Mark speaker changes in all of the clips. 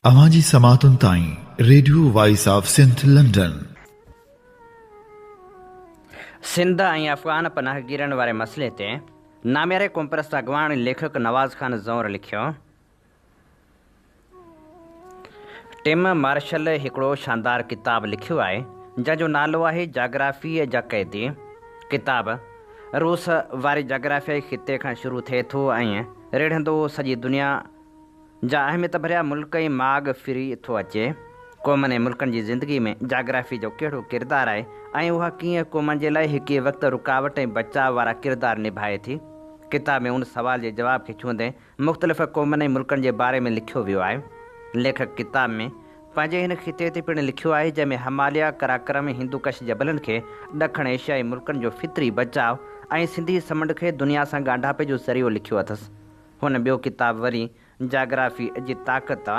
Speaker 1: اوهان جي سماعتن تائين radio voice of Sindh London.
Speaker 2: Sindh ۽ افغان پناهگيرن واري مسئلي تي نامياري قومپرست اڳواڻ ليکڪ نواز خان زئور لکيو، ٽم مارشل هڪڙو شاندار ڪتاب لکيو آهي، جنهن جو نالو آهي جاگرافيء جا قيدي. ڪتاب روس واري جاگرافيائي خطي کان شروع ٿئي ٿو ۽ رڙهندو سڄي دنيا، جا اهميت ڀريا ملڪ ۽ ماڳ ڦري ٿو اچي. قومن ۽ ملڪن جي زندگي ۾ جاگرافي جو ڪهڙو ڪردار آهي ۽ اها ڪيئن قومن جي لاء هڪ ئي وقت رڪاوٽ ۽ بچاء وارا ڪردار نڀائي ٿي؟ ڪتاب ۾ ان سوال جي جواب کي ڇهندي مختلف قومن ۽ ملڪن جي باري ۾ لکيو ويو آهي. ليکڪ ڪتاب ۾ پنهنجي هن خطي تي پڻ لکيو آهي جنهن ۾ هماليا، قراقرم ۽ هندوڪش جبلن کي ڏکڻ ايشيائي ملڪن جو فطري بچاء ۽ سنڌي سمنڊ کي دنيا سان ڳانڍاپي جو ذريعو لکيو اٿس. هن ٻيو ڪتاب وري جاگرافيء جي طاقت،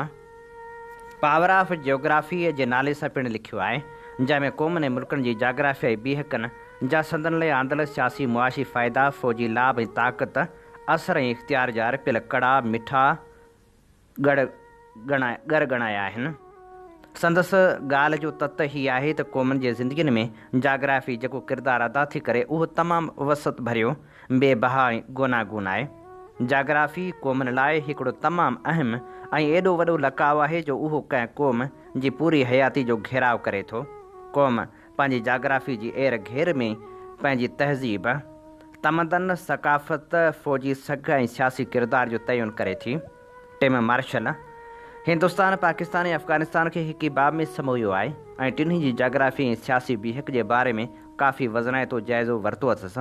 Speaker 2: Power of Geography، جي نالي سان پڻ لکيو آهي، جنهن ۾ قومن ۽ ملڪن جي جاگرافيائي بيهڪن جا سندن لاء آندل سياسي معاشي فائدا، فوجي لاڀ ۽ طاقت، اثر ۽ اختيار جا ارپيل ڪڙا، مٺا، ڳڙ ڳڙ ڳڻايا آهن. سندس ڳالهه جو تت هي آهي ته قومن جي زندگين ۾ جاگرافي جيڪو ڪردار ادا ٿي ڪري اهو تمام وسعت ڀريو، بي بها ۽ گوناگون آهي. جاگرافي قومن لاء هڪڙو تمام اهم ۽ ايڏو وڏو لقاء آهي جو اهو ڪنهن قوم جي پوري حياتي جو گهيراء ڪري ٿو. قوم پنهنجي جاگرافي جي اير گهير ۾ پنهنجي تهذيب، تمدن، ثقافت، فوجي سگهه ۽ سياسي ڪردار جو تعين ڪري ٿي. ٽيم مارشل هندستان، پاڪستان ۽ افغانستان کي هڪ ئي باب ۾ سمويو آهي ۽ ٽنهي جي جاگرافي ۽ سياسي بيهڪ جي باري ۾ ڪافي وزنائتو جائزو ورتو اٿس.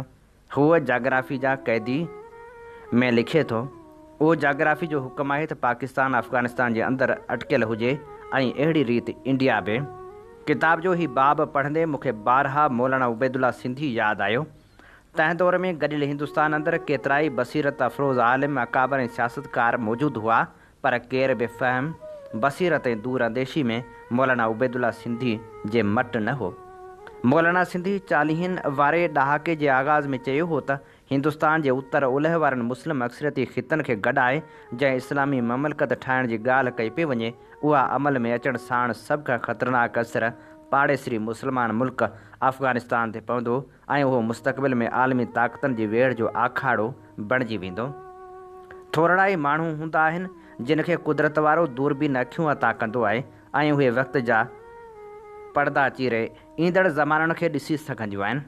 Speaker 2: هو جاگرافي جا قيدي ۾ لکي ٿو، اهو جاگرافي جو حڪم آهي ته پاڪستان افغانستان جي اندر اٽڪيل هجي ۽ اهڙي ريت انڊيا به. ڪتاب جو هي باب پڙهندي مون کي بارها مولانا عبيدالله سنڌي ياد آيو. تنهن دور ۾ گڏيل هندستان اندر ڪيترائي بصيرت افروز عالم، اڪابر ۽ سياستڪار موجود هئا پر ڪير به فهم، بصيرت ۽ دور انديشي ۾ مولانا عبيدالله سنڌي جي مٽ نه هو. مولانا سنڌي چاليهن واري ڏهاڪي جي آغاز ۾ چيو هو ته هندستان جي اتر اولهه وارن مسلم اڪثريتي خطن کي گڏائي جنهن اسلامي مملڪت ٺاهڻ جي ڳالهه ڪئي پئي وڃي اها عمل ۾ اچڻ ساڻ سڀ کان خطرناڪ اثر پاڙيسري مسلمان ملڪ افغانستان تي پوندو ۽ اهو مستقبل ۾ عالمي طاقتن جي ويڙهه جو آکاڙو بڻجي ويندو. ٿورڙا ئي ماڻهو هوندا آهن، جن کي قدرت وارو دوربين اکيون عطا ڪندو آهي ۽ اهي وقت جا پڙدا چيري ايندڙ زمانن کي ڏسي سگهنديون آهن.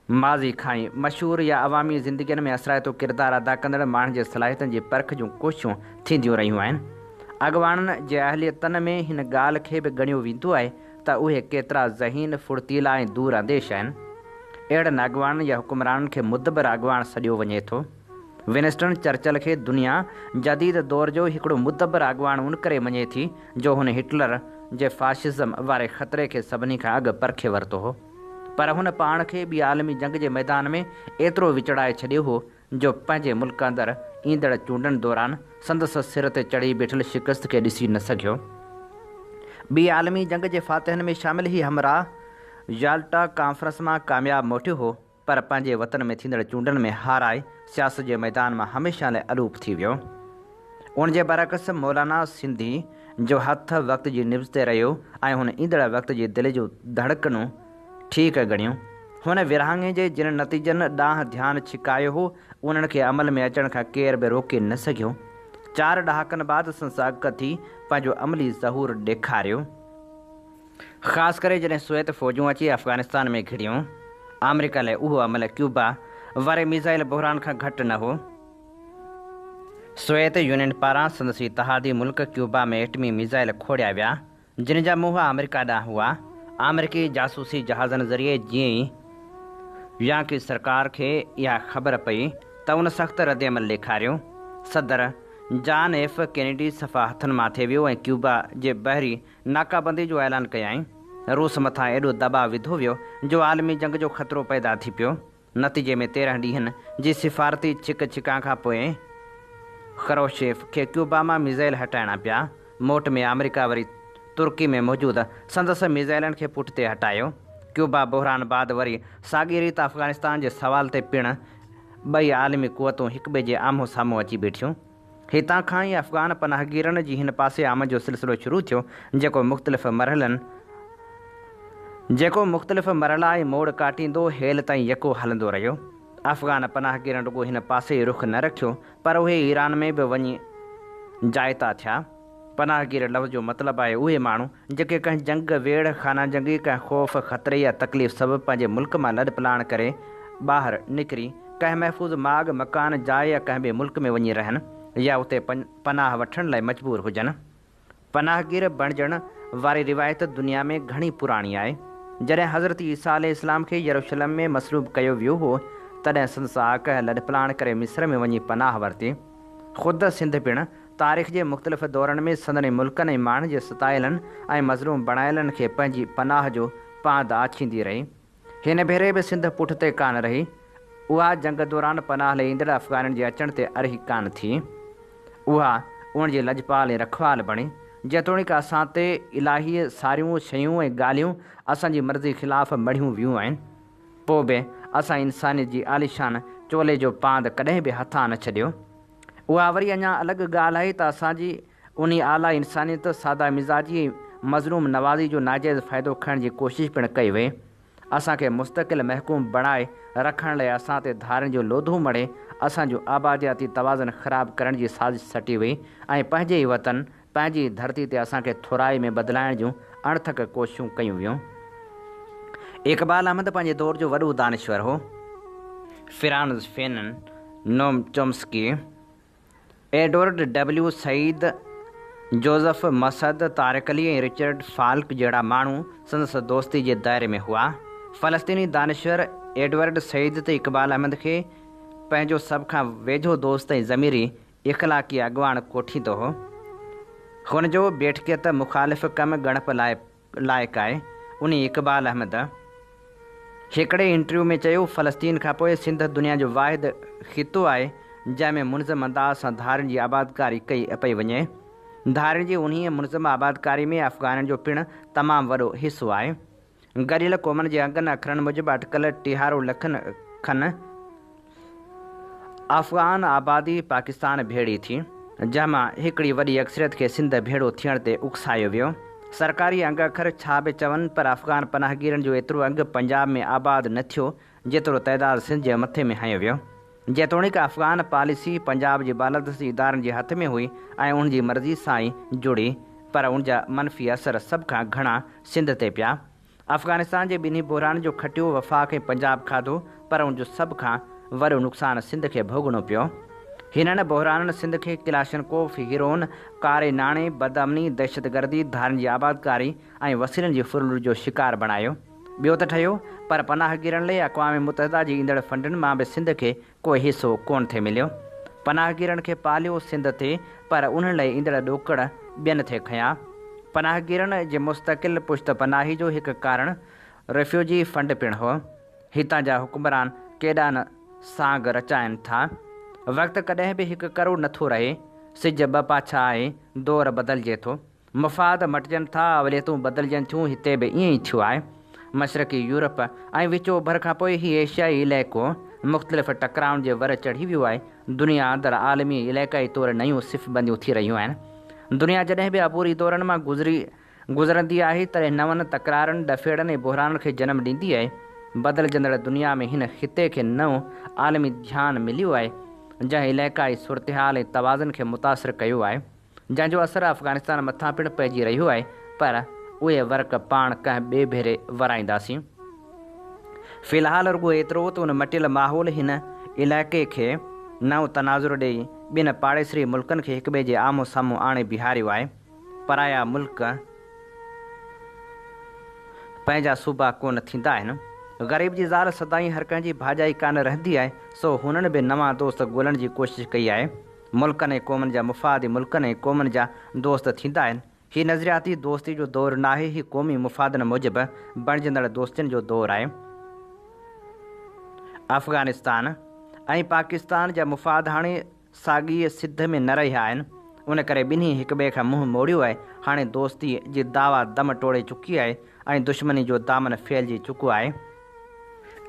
Speaker 2: ماضي کان ئي مشهور يا عوامي زندگين ۾ اثرائتو ڪردار ادا ڪندڙ ماڻهن جي صلاحيتن جي پرک جون ڪوششون ٿينديون رهيون آهن. اڳواڻن جي اهليتن ۾ هن ڳالهه کي به ڳڻيو ويندو آهي ته اهي ڪيترا ذهين، ڦڙتيلا ۽ دور انديش آهن. اهڙن اڳواڻن يا حڪمرانن کي مدبر اڳواڻ سڏيو وڃي ٿو. ونسٽن چرچل کي دنيا جديد دور جو هڪڙو مدبر اڳواڻ ان ڪري مڃي ٿي جو هن هٽلر جي فاشزم واري خطري کي سڀني کان اڳ پرکي ورتو هو. پر هن پاڻ کي ٻي عالمي جنگ جي ميدان ۾ ايترو وچڙائي ڇڏيو هو، جو پنهنجي ملڪ اندر ايندڙ چونڊن دوران سندس سر تي چڙهي بيٺل شڪست کي ڏسي نه سگهيو. ٻي عالمي جنگ جي فاتحن ۾ شامل هي همراهه يالٽا ڪانفرنس مان ڪامياب موٽيو هو، پر پنهنجي وطن ۾ ٿيندڙ چونڊن ۾ هارائي سياست جي ميدان مان هميشه لاء الوپ ٿي ويو. ان جي برعڪس مولانا سنڌي جو هٿ وقت جي نبض تي رهيو ۽ هن ايندڙ وقت جي دل جون ڌڙڪنون ٺيڪ ڳڻيون. هن ورهاڱي جي جن نتيجن ڏانهن ڌيان ڇڪايو هو، انهن کي عمل ۾ اچڻ کان ڪير به روڪي نه سگهيو. چار ڏهاڪن بعد سنساگڪ ٿي پنهنجو عملي ظهور ڏيکاريو. خاص ڪري جڏهن سويت فوجون اچي افغانستان ۾ گهڙيون. آمريڪا لاء اهو عمل ڪيوبا واري ميزائل بحران کان گهٽ نه هو. سويت يونين پاران سندس اتحادي ملڪ ڪيوبا ۾ ايٽمي ميزائل کوڙيا ويا جن جا منهن آمريڪا ڏانهن هئا، آمريڪي جاسوسي جهازن ذريعي جيئن ئي يانڪي سرڪار کي اها خبر پئي ته ان سخت ردعمل ڏيکاريو، صدر جان ايف ڪينيڊي صفا هٿن ماٿي ويو ۽ ڪيوبا جي بحري ناڪابندي جو اعلان ڪيائين. روس مٿان ايڏو دٻاء وڌو ويو جو عالمي جنگ جو خطرو پيدا ٿي پيو. نتيجي ۾ تيرهن ڏينهن جي سفارتي ڇڪ ڇڪان کان پوء خروشيف کي ڪيوبا مان ميزائل هٽائڻا پيا. موٽ ۾ آمريڪا وري ترڪي ۾ موجود سندس ميزائلن کي پٺتي هٽايو. ڪيوبا بحران بعد وري ساڳي ريت افغانستان جي سوال تي پڻ ٻئي عالمي قوتون هڪٻئي جي آمهون سامهون اچي بيٺيون. هتان کان ئي افغان پناهگيرن جي هن پاسي آمد جو سلسلو شروع ٿيو، جيڪو مختلف مرحلن جيڪو مختلف مرحلا ۽ موڙ ڪاٽيندو هيل تائين يڪو هلندو رهيو. افغان پناهگيرن رڳو هن پاسي ئي رخ نه رکيو، پر اهي ايران ۾ به وڃي جائتا ٿيا. پناهگير لفظ جو مطلب آهي اهي ماڻهو جيڪي ڪنهن جنگ، ويڙهه، خانه جنگي، ڪنهن خوف، خطري يا تڪليف سبب پنهنجي ملڪ مان لڏ پلاڻ ڪري ٻاهر نڪري ڪنهن محفوظ ماڳ، مڪان، جاء يا ڪنهن ٻئي ملڪ ۾ وڃي رهن يا اتي پناهه وٺڻ لاء مجبور هجن. پناهگير بڻجڻ واري روايت دنيا ۾ گهڻي پراڻي آهي. جڏهن حضرت عيسيٰ عليه السلام کي يروشلم ۾ مصلوب ڪيو ويو هو تڏهن سندس آقهه لڏپلاڻ ڪري مصر ۾ وڃي پناهه ورتي. خود سنڌ پڻ تاريخ جي مختلف دورن ۾ سندن ئي ملڪن ۽ ماڻهن جي ستايلن ۽ مظلوم بڻايلن کي پنهنجي پناهه جو پاند آڇيندي رهي. هن ڀيري به سنڌ پٺتي ڪانه رهي. اها جنگ دوران پناهه لئي ايندڙ افغانين جي اچڻ تي ارهي ڪانه ٿي. اها ان جي لڄپال ۽ رکوال بڻي. جيتوڻيڪ اسان تي الاهيء ساريون شيون ۽ ڳالهيون اسان جي مرضي خلاف مڙهيون ويون آهن، پوء به اسان انسانيت جي عاليشان چولي جو پاند ڪڏهن به هٿان نه ڇڏيو. اها وري اڃا الڳ ڳالهه آهي ته اسان جي انهي اعليٰ انسانيت، ساده مزاجي ۽ مظلوم نوازي جو ناجائز فائدو کڻڻ جي ڪوشش پڻ ڪئي وئي. اسان کي مستقل محڪوم بڻائي رکڻ لاء اسان تي ڌارين جو لوڌو مڙهي اسان جو آبادياتي توازن خراب ڪرڻ جي سازش سٽي وئي ۽ پنهنجي ئي وطن پنهنجي ڌرتي تي اسان کي ٿورائي ۾ بدلائڻ جون اڻٿڪ ڪوششون ڪيون ويون. اقبال احمد پنهنجي دور جو وڏو دانشور هو. Frantz Fanon, Noam Chomsky, Edward W Said, Joseph Massad, Tariq Ali ۽ Richard Falk جهڙا ماڻهو سندس دوستي جي دائري ۾ هئا. فلسطيني دانشور ايڊورڊ سعيد تي اقبال احمد کي پنهنجو سڀ کان ويجهو دوست ۽ ضميري اخلاقي اڳواڻ ڪوٺيندو هو. هن جو بيٺڪيت مخالف ڪم ڳڻپ لاء لائق آهي. انهي اقبال احمد هڪڙي انٽرويو ۾ چيو، فلسطين کان پوء سنڌ دنيا جو واحد خطو آهي، جنهن ۾ منظم انداز سان ڌارين جي آبادڪاري ڪئي پئي وڃي. ڌارين جي انهيء منظم آبادڪاري ۾ افغانن جو پڻ تمام وڏو حصو آهي. گهڙيل قومن جي انگن اکرن موجب اٽڪل ٽيهارو لکن کن افغان آبادي پاڪستان ڀيڙي ٿي، جنهن مان هڪڙي وڏي اڪثريت کي سنڌ ڀيڙو ٿيڻ تي اڪسايو ويو. سرڪاري انگ اکر ڇا به چون پر افغان پناهگيرن جو ايترو انگ پنجاب ۾ آباد نه ٿيو، جيترو تعداد سنڌ جي مٿي ۾ هنيو ويو. جيتوڻيڪ افغان پاليسي پنجاب جي بالادستي ادارن جي هٿ ۾ هئي ۽ انهن جي مرضي سان ئي جڙي پر ان جا منفي اثر سڀ کان گهڻا سنڌ تي پيا. افغانستان جي ٻنهي بحرانن جو کٽيو وفاق ۽ پنجاب کاڌو پر ان جو سڀ کان وڏو نقصان سنڌ کي ڀوڳڻو پيو. هنن بحرانن سنڌ کي ڪلاشنڪوف، هيروئن، ڪاري ناڻي، بدامني، دهشتگردي، ڌارين جي آبادڪاري ۽ وسيلن جي ڦرلٽ جو شڪار بڻايو. ٻيو ته ٺهيو پر پناهگيرن لئي اقوام متحده جي ايندڙ فنڊن مان به سنڌ کي ڪو حصو ڪونه ٿي مليو. پناهگيرن کي پاليو سنڌ ٿي پر انهن لئي ايندڙ ڏوڪڙ ٻين ٿي کنيا. پناهگيرن جي مستقل پشت پناهي جو هڪ ڪارڻ ريفيوجي فنڊ پڻ هو. هتان جا حڪمران ڪيڏا نه سانگ رچائين ٿا. وقت ڪڏهن به هڪ ڪرو نه ٿو رهي. سج ٻه پاڇا آهي، دور بدلجي ٿو. مفاد مٽجن ٿا اوليتون بدلجن ٿيون هتي به ائين ئي ٿيو آهي. مشرقي يورپ ۽ وچ اوڀر کان پوء هي ايشيائي علائقو مختلف ٽڪرائن جي ور چڙهي ويو آهي. دنيا اندر عالمي ۽ علائقائي طور نيون صف بنديون ٿي رهيون آهن. دنيا جڏهن به عبوري دورن مان گذري گذرندي آهي تڏهن نون تڪرارن، ڏڦيڙن ۽ بحرانن کي جنم ڏيندي آهي. بدلجندڙ دنيا ۾ هن خطي کي نئون عالمي ڌيان مليو آهي جنهن علائقائي صورتحال ۽ توازن کي متاثر ڪيو آهي. جنهن جو اثر افغانستان مٿان پڻ پئجي رهيو آهي پر اهي ورق پاڻ ڪنهن ٻئي ڀيري ورائينداسين. في الحال رڳو ايترو ته ان مٽيل ماحول هن علائقي کي نئون تناظر ڏئي ٻن پاڙيسري ملڪن کي هڪٻئي جي آمهون سامهون آڻي بيهاريو آهي. پرايا ملڪ پنهنجا صوبا ڪونه ٿيندا آهن. غريب جي زال سدائين هر ڪنهن جي ڀاڄائي ڪانه رهندي آهي سو هنن به نوان دوست ڳولڻ جي ڪوشش ڪئي آهي. ملڪن ۽ قومن جا مفاد ئي ملڪن ۽ قومن جا دوست ٿيندا آهن. هي نظرياتي دوستي جو دور ناهي، هي قومي مفادن موجب بڻجندڙ دوستين جو دور آهي. افغانستان ۽ پاڪستان جا مفاد هاڻي ساڳيء سڌ ۾ نه رهيا آهن، ان ڪري ٻنهي هڪٻئي کان منهن موڙيو آهي. هاڻي دوستيء جي دعويٰ دم ٽوڙي چڪي آهي ۽ دشمني جو دامن ڦهلجي چڪو آهي.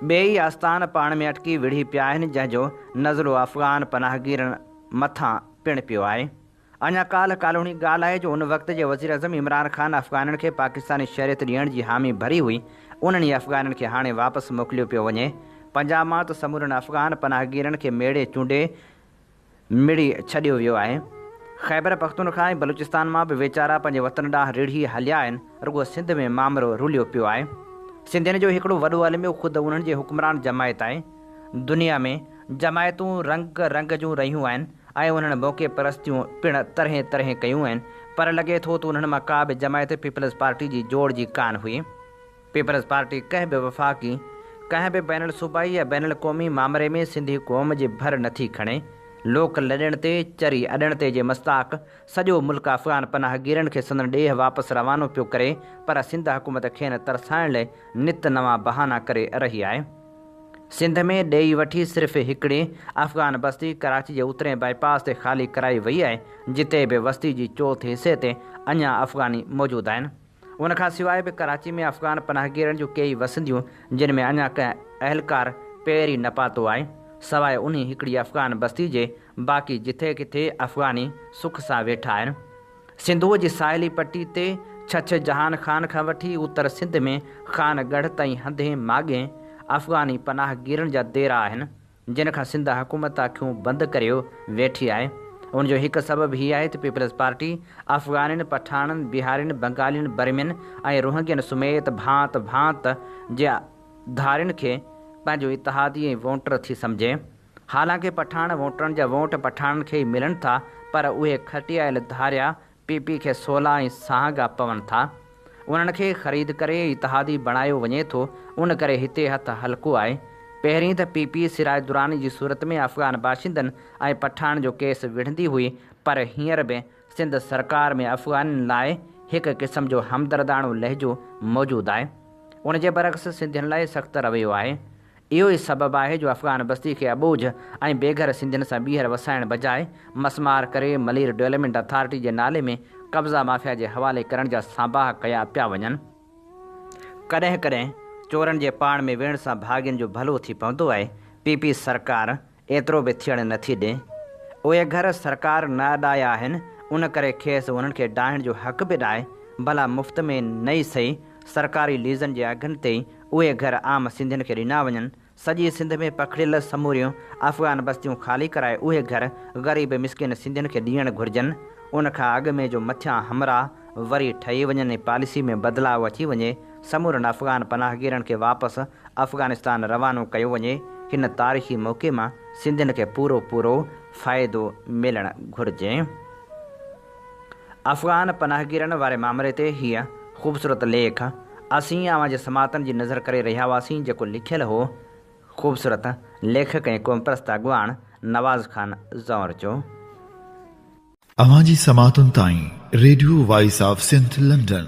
Speaker 2: ٻئي ئي آستان پاڻ ۾ اٽڪي وڙهي پيا آهن، جنهن جو نزلو افغان پناهگيرن مٿان پڻ پيو آهي. اڃا ڪالهه ڪالهوڻي ڳالهه آهي جو ان وقت جي وزيراعظم عمران خان افغانن کي پاڪستاني شهريت ڏيڻ جي حامي ڀري هئي، انهن ئي افغانن کي هاڻي واپس موڪليو پيو وڃي. پنجاب مان ته سمورن افغان پناهگيرن کي ميڙي چونڊي مڙهي ڇڏيو ويو آهي. خيبر پختونخوا ۽ بلوچستان مان به ويچارا پنهنجي وطن ڏانهن رڙهي هليا آهن، رڳو سنڌ ۾ مامرو رليو پيو آهي. سنڌين جو هڪڙو وڏو الميو خود انهن جي حڪمران جماعت آهي. دنيا ۾ جماعتون رنگ رنگ جون رهيون آهن ۽ انهن موقعي پرستيون پڻ طرحين طرحين ڪيون آهن، پر لڳي ٿو ته انهن مان ڪا به جماعت پيپلز پارٽي جي جوڙ جي ڪانه هئي. پيپلز پارٽي ڪنهن به وفاقي، ڪنهن به بين الصوبائي يا بين القومي مامري ۾ سنڌي قوم جي ڀر نٿي کڻي. لوڪ لڏڻ تي، چري اڏڻ تي جي مصداق سڄو ملڪ افغان پناهگيرن کي سندن ڏيهه واپس روانو پيو ڪري پر سنڌ حڪومت کين ترسائڻ لئي نت نوان بهانا ڪري رهي آهي. سنڌ ۾ ڏيئي وٺي صرف هڪڙي افغان بستي ڪراچي جي اترئين بائي پاس تي خالي ڪرائي وئي آهي جتي به وستي جي چوٿ حصي تي اڃان افغاني موجود آهن. ان کان سواء به ڪراچي ۾ افغان پناهگيرن جون ڪيئي وسنديون جن ۾ اڃا ڪنهن اهلڪار پير ئي نه پاتو آهي، سواء انهي هڪڙي افغان بستي جي باقي جٿي ڪٿي افغاني سک سان ويٺا آهن. سنڌوء جي ساحلي پٽي تي ڇڇ جهان خان کان وٺي اتر سنڌ ۾ خان ڳڙهه تائين هنڌين ماڳين افغاني پناهگيرن جا ديرا آهن. جنھن کان سنڌ حڪومت اکيون بند ڪريو ويٺي آھي ان جو ھڪ سبب ھي آھي ته پيپلز پارٽي افغانين، پٺاڻن، بيھارين، بنگالين، برمين ۽ روھنگين سميت ڀانت ڀانت جي ڌارين کي پنھنجو اتحادي ۽ وونٽر ٿي سمجھي. حالانڪ پٺاڻ وونٽرن جا وونٽ پٺاڻن کي ئي ملن ٿا پر اھي کٽيايل ڌاريا پي پي کي سولا ۽ سهانگا پون ٿا. انهن کي خريد ڪري اتحادي بڻايو وڃي ٿو، ان ڪري هتي هٿ هلڪو آهي. پهرين ته پي پي سراج دراني جي صورت ۾ افغان باشندن ۽ پٺاڻن جو ڪيس وڙهندي هئي پر هينئر به سنڌ سرڪار ۾ افغانين لاء هڪ قسم جو همدرداڻو لهجو موجود آهي. ان جي برعڪس سنڌين لاء سخت رويو آهي. اهو ئي سبب آهي جو افغان بستي کي اٻوجهه ۽ بيگهر سنڌين سان ٻيهر وسائڻ بجاء مسمار ڪري ملير ڊويلمينٽ اٿارٽي جي نالي ۾ قبضا مافيا جي حوالي ڪرڻ جا سانباها ڪيا پيا وڃن. ڪڏهن ڪڏهن چورن جي پاڻ ۾ ويڙهه سان ڀاڳين جو ڀلو ٿي پوندو آهي، پي پي سرڪار، ايترو به ٿيڻ نه ٿي ڏئين. اهي گهر سرڪار نه اڏايا آهن، ان ڪري کيس انهن کي ڊاهڻ جو حق به ناهي، ڀلا مفت ۾ نه ئي سهي، سرڪاري ليزن جي اگهن تي ئي اهي گهر عام سنڌين کي ڏنا وڃن. سڄي سنڌ ۾ پکڙيل سموريون افغان بستيون خالي ڪرائي اهي گهر غريب مسڪين سنڌين کي ڏيڻ گهرجن. ان کان اڳ ۾ جو مٿيان همراهه وري ٺهي وڃن ۽ پاليسي ۾ بدلاء اچي وڃي، سمورن افغان پناهگيرن کي واپس افغانستان روانو ڪيو وڃي، هن تاريخي موقعي مان سنڌين کي پورو پورو فائدو ملڻ گهرجي. افغان پناهگيرن واري مامري تي هيء خوبصورت ليک اسين اوهان جي سماعتن جي نذر ڪري رهيا هئاسين جيڪو لکيل هو خوبصورت ليکڪ ۽ قومپرست اڳواڻ نواز خان زئور جو.
Speaker 1: اوهان جي سماعتن تائين radio voice of Sindh London.